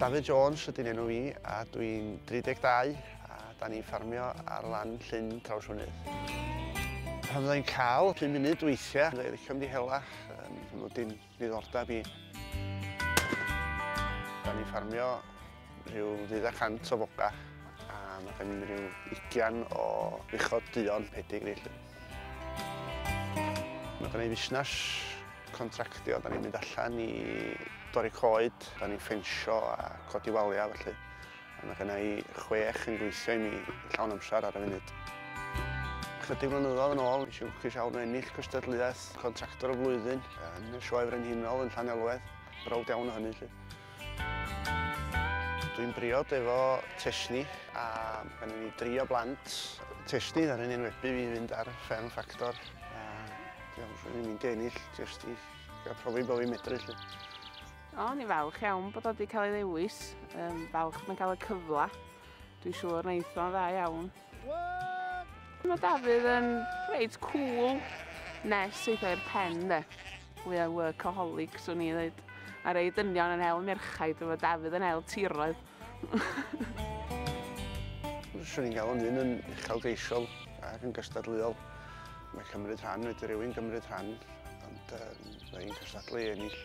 Dafydd Jones ydy'n enw i a dwi'n 32 a da ni'n ffarmio ar lan llyn traws mynydd. Pan fyddai'n cael 5 munud weithiau, dwi'n licio mynd i hela, nhw dim ddiddordeb i. Da ni'n ffarmio rhyw ddydd a cant o foga a mae gen i rhyw ugian o uchod duon pedig felly. Mae gen i fusnes contractio, da ni'n mynd allan i dorri coed, da ni'n ffensio a codi waliau felly. A mae gen i chwech yn gweithio i mi llawn amser ar y funud. Chydig flynyddoedd yn ôl, nes i lwcus iawn o ennill cystadleuaeth contractor y flwyddyn yn y Sioe Frenhinol yn Llanelwedd. Browd iawn o hynny, lle. Dwi'n briod efo Tesni a pan ni'n drio blant Tesni ar yn enwebu fi fynd ar Fern Ffactor a dwi'n mynd i ennill jyst i gael profi bod fi'n medru lle. O, ni'n falch iawn bod o wedi cael ei ddewis, um, falch mae'n cael y cyfle. Dwi'n siŵr wneud o'n dda iawn. Mae Dafydd yn reit cool nes eitha i'r pen de. We are workaholic, swn i ddweud. A rei dynion yn hel merchaid, efo Dafydd yn hel tiroedd. Swn i'n galw'n un yn uchel geisiol ac yn gystadleuol. Mae cymryd rhan, wedi rhywun gymryd rhan, ond um, mae'n cystadlu i ennill.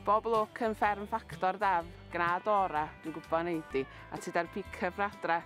Bob lwc yn fferm ffactor daf, gnad ora, dwi'n gwybod neud i, a ti da'r pick-up radra.